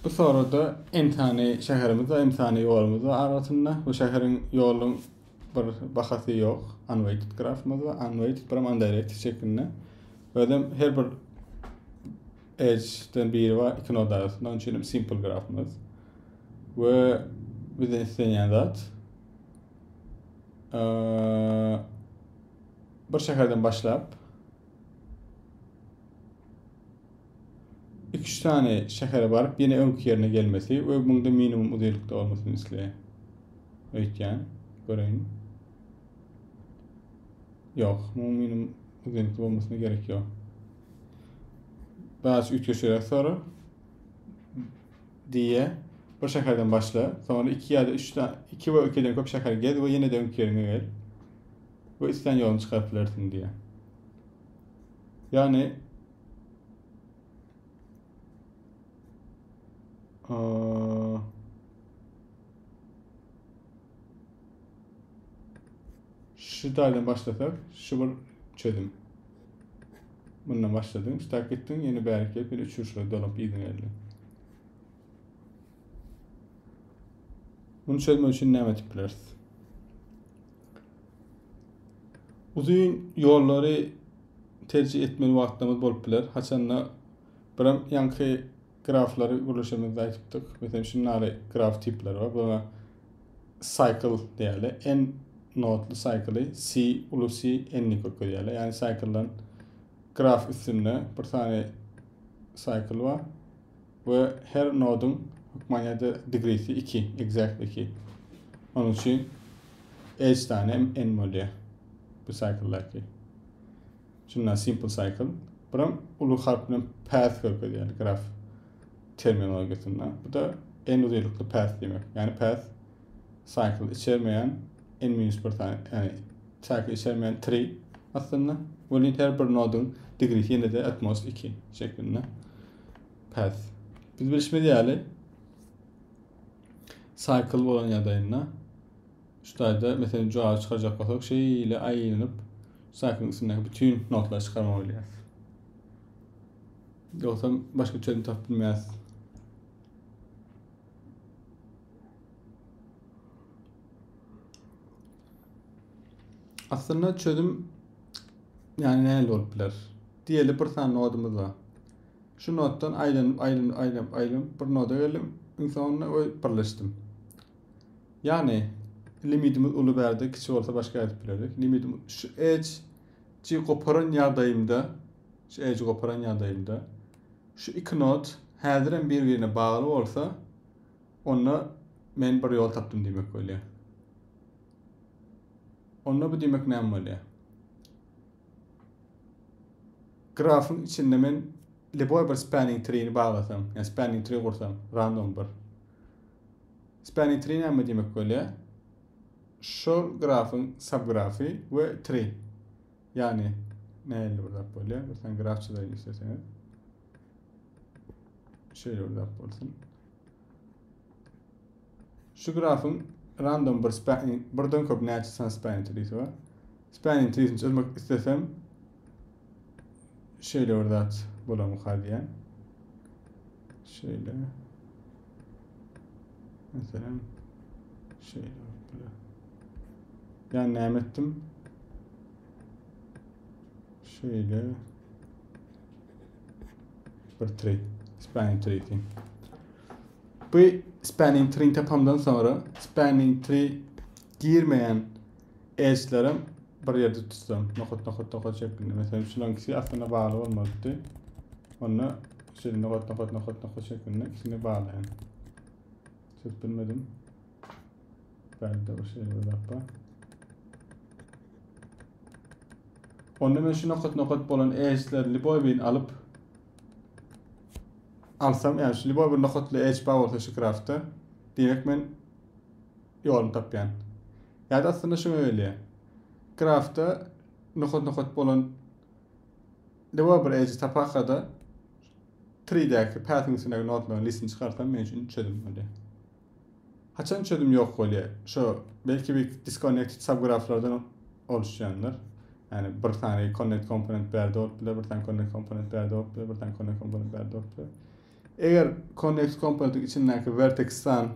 Bu sorada Enthany şäherimiz we Enthany ýolumyz bar arasynda. Bu şäheriň ýoluň bir bahasy ýok. Unweighted grafymyz bar. Unweighted biram undirected şeklinde. Özem her bir edge-den biri bar iki noda arasynda. Onuň üçin hem simple grafymyz. We bizden islenýän zat bir şäherden başlap iki-üç sany şähere baryp, ýene öňki ýerine gelmesi we muňda minimum uzynlykda bolmasyny isleýän. Öýtýän. Göreýin. Ýok, muň minimum uzynlykda bolmasyna gerek ýok. Biraz üýtgeşiräk soru. Diýe, bir şäherden başla, soňra iki ýa-da üç iki we ikiden köp şäher gez we ýene-de öňki ýeriňe gel. Bu islän ýoluny çykaryp bilersiň diýýär. Yani Aa, şu taydan başlasak şu bir çözüm. Bundan başladın, şu tak gittin, yeni bärik gelip, yine üçürşüre dolup izin geldi. Bunu çözmek üçin näme edip bileris? Uzun ýollary terjih etmeli wagtlarymyz bolup biler. Haçanda biram ýaňky graflary gürleşemizde aýdypdyk. Meselem, şunlary graf tipleri bar. Buna cycle diýeli. N notly cycle, C uly C n ni köpelýär. Ýagny cycle graf üstünde bir sany cycle bar. we her nodyň hökman ýa-da degresi 2, exact 2. Onuň üçin edge sany hem n bolýar bu cycle-däki. Şunda simple cycle. Buram uly harp bilen path görkezýär graf terminologiýasynda. Bu da n uzylykly path diýmek. Ýani path cycle içermeýän n-1 sany, ýani cycle içermeýän tree aslynda. Welin her bir nodyň degresi ýene-de at most 2 şeklinde. path. Biz bilişimiz ýaly cycle bolan ýagdaýynda şu taýda meselen jogap çykarjak bolsak şeýle aýlanyp cycle üstündäki bütün nodlary çykarmaly bolýar. Ýogsam başga çözüm tapyp bilmeýäs. Aslynda çözüm yani nähili bolup biler? Diýeli bir sany nodumyz bar. Şu notdan aýlanyp, aýlanyp, aýlanyp, aýlanyp bir noda geldim. Iň soňunda we birleşdim. Ýagny limitimiz uly bärde, kiçi bolsa başga edip bilerik. Limitim şu edge ji goparan ýagdaýymda, şu edge goparan ýagdaýymda şu iki not häzir hem bir-birine bagly bolsa, onda men bir ýol tapdym diýmek bolýar. Onda bu diýmek näme bolýar? Grafyň içinde men lýuboý bir spanning trini baglasam, ýa spanning tri gursam, random bir. Spanning tri näme diýmek bolýar? Şol grafyň subgrafy we tri. Ýagny nähili bir zat bolýar? Bir sen graf çyzaýyn isleseňiz. Şeýle bir zat bolsun. Şu grafyň random bir span birden köp näçe san span treesi bar. Span treesini çözmek istesem şeýle bir zat bolar mykar diýen. Şeýle. Meselem şeýle bolup Yani näme etdim? Şeýle. Bir tree. Spanning tree diýin. Bu spanning tree tapamdan sonra spanning tree girmeýän edge'lerim bir ýerde tutsam. Nokat nokat nokat şeklinde. Mesela şulankisi aslında bagly bolmalydy. Onda şöyle nokat nokat nokat nokat şeklinde ikisini baglaýan. Çok bilmedim. Bähbitde bir şeýle bir zat bar. Onda men şu nokat-nokat bolan edge'leri liboy birin alyp alsam, yani şu liboy bir nokatly edge bar bolsa şu graftda, diýmek men ýoluny tapýan. Ýa-da aslynda şuňa gelýär. Graftda nokat-nokat bolan liboy bir edge tapakada 3-däki path-iň üstündäki notlaryň listini çykarsam men üçin çözüm bolýar. Haçan çözüm ýok bolýar? Şo belki bir disconnected subgraflardan oluşýandyr. Ýani bir sany connect komponent bärde bolup biler, bir sany connect komponent bärde bolup biler, bir sany connect komponent bärde bolup biler. Eger connect komponentiň içindäki vertex san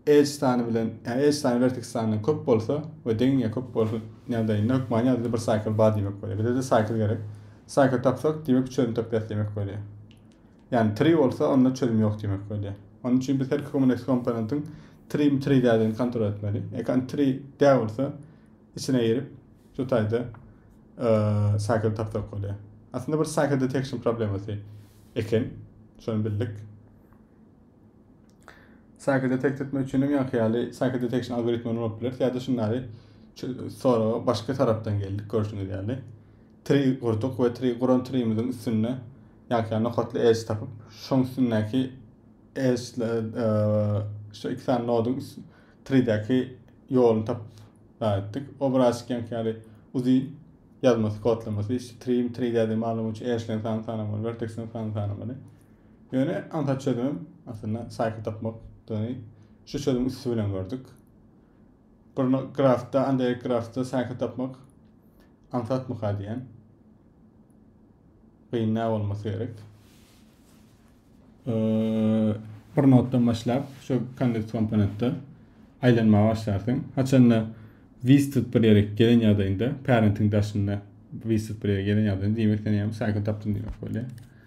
edge sany bilen, ýani edge sany vertex sanyna köp bolsa we deň ýa köp bolsa ýagdaýynda hökman ýa-da bir cycle bar diýmek bolýar. Bize-de cycle gerek. Cycle tapsak, diýmek çözüm tapýas diýmek bolýar. Ýagny tri bolsa onda çözüm ýok diýmek bolýar. Onuň üçin biz her kommunex komponentiň trimi tri däldigini kontrol etmeli. Eger tri däl bolsa içine girip şu taýda cycle tapsak bolýar. Aslynda bir cycle detection problemasy eken. Şony bildik. Circuit detect etmek üçin öňki ýaly circuit detection algoritmi ulanyp bileris ýa-da şunlary soraga başga tarapdan geldik görşüňiz ýaly. Tree gurduk we tree guran tree'miziň üstünde ýa-da nokatly edge tapyp, şoň üstündäki edge e, şu iki sany noduň tree'däki ýoluny tapyp etdik. Obraz ýanki ýaly uzi ýazmasy kodlamasy, şu tree tree däde maglumat üçin edge-leň sanyny sanamaly, vertex-leň sanyny sanamaly. Ýöne aňsat çözümem aslynda saýky tapmakdygyny şu çözüm üsti bilen gördük. Bir grafda, andeýek grafda saýky tapmak aňsatmyka diýen. Gyn nä bolmasy gerek. Bir notdan başlap, şu kondens komponentde aýlanmaga başlarsyň. Haçanda Vistit bir ýere gelen ýagdaýynda, parenting daşynda Vistit bir ýere gelen ýagdaýynda diýmek sen ýa-da saýky tapdym diýmek bolýar.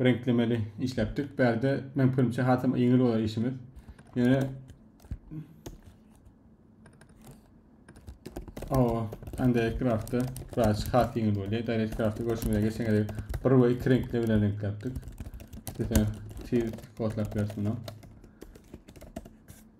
reňklemeli işläpdik. Bärde men pikirimçe hasam ýeňil bolar işimiz. Ýöne Awa, anda craftda biraz has ýeňil bolýar. Direct craftda görşüňize geçen gezek bir we iki reňkle bilen reňkläpdik. Size tiz kodlap bersin o.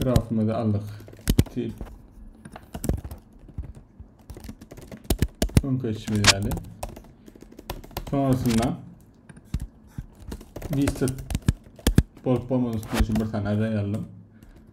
Grafymyzy aldyk. Tip. Öňki işimiz ýaly. Sonrasynda Vista bolup bolmadyk üstüne şu bir sanaja ýalyň.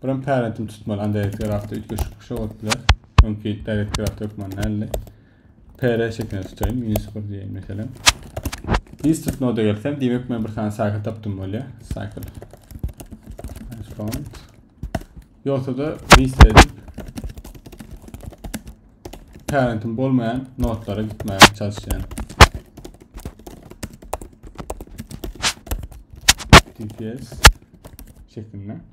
Buram parentimi tutmaly Android grafda üýtgeşik bir şey bolup biler. Öňki direkt graf hökman däldi. PR şeklinde tutaýyn, minus 1 diýeýin meselem. Insert noda gelsem, diýmek men bir sany cycle tapdym bolýar. Cycle. Response. Ýogsa da list edip parentim bolmaýan notlara gitmäge çalışýan. DPS şeklinde.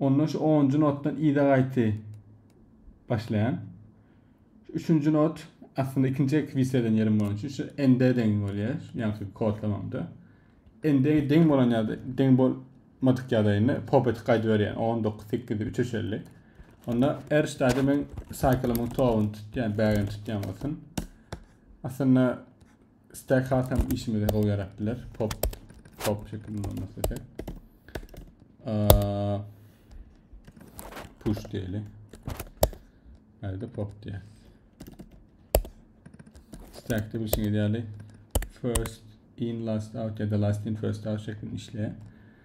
Ondan şu onunjy notdan yza gaýty başlaýan. Şu üçünji not aslynda ikinji ekwiz eden ýerim bolan üçin şu nd deň bolýar. Ýagny şu kodlamamda. Nd deň bolan ýa-da deň bolmadyk ýagdaýynda pop etip gaýdy berýän. 19 8 3 eşelli. Onda er ştaýda men saýkylymyň toguny tutýan, bägini tutýan bolsun. Aslynda Stack hat hem işimize gowy ýarap biler. Pop pop şekilde olmak isledik. Push diýeli. Hadi pop diýer. Stack de bir şey ideali. First in last out ya da last in first out şeklinde işleýär.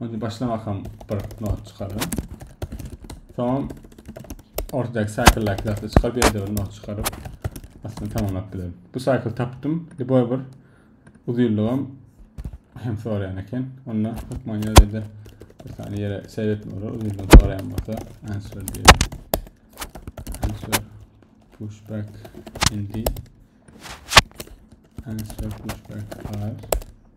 Onda başlamakam bir not çykarýan. Soň ortadaky cycle-daky zatda çykaryp ýerde bir not çykaryp aslynda tamamlap bilerin. Bu cycle tapdym. Liboý bir uzynlygam hem soraýan eken. Onda hökman ýerde bir sany ýere seýretme bolar. Uzynlygy soraýan bolsa answer diýelim. Answer pushback indi. Answer pushback are.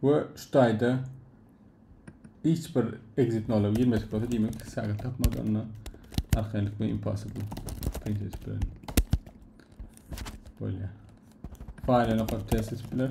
we şu taýda hiç bir exit nola girmedik bolsa demek ki sagat tapmaz onda arkaýynlyk bilen impossible print edip bilen bolýar faýla nokar test edip biler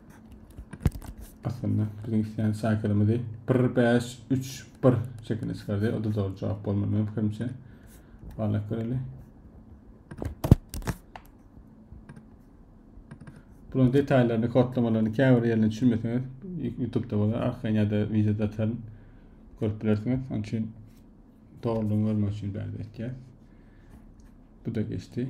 Aslynda biziň isleýän şäherimizi 1531 şekilde çykardy. O da zor cevap bolmaly benim fikrimçe. Barlak göreli. Bunun detaylarını, kodlamalarını käbir yerine düşünmeseniz YouTube'da bolar, arkaýyn ya da videoda ataryn. Görüp bilersiniz. Onun için doğruluğunu görmek için bäri etýär. Bu da geçti.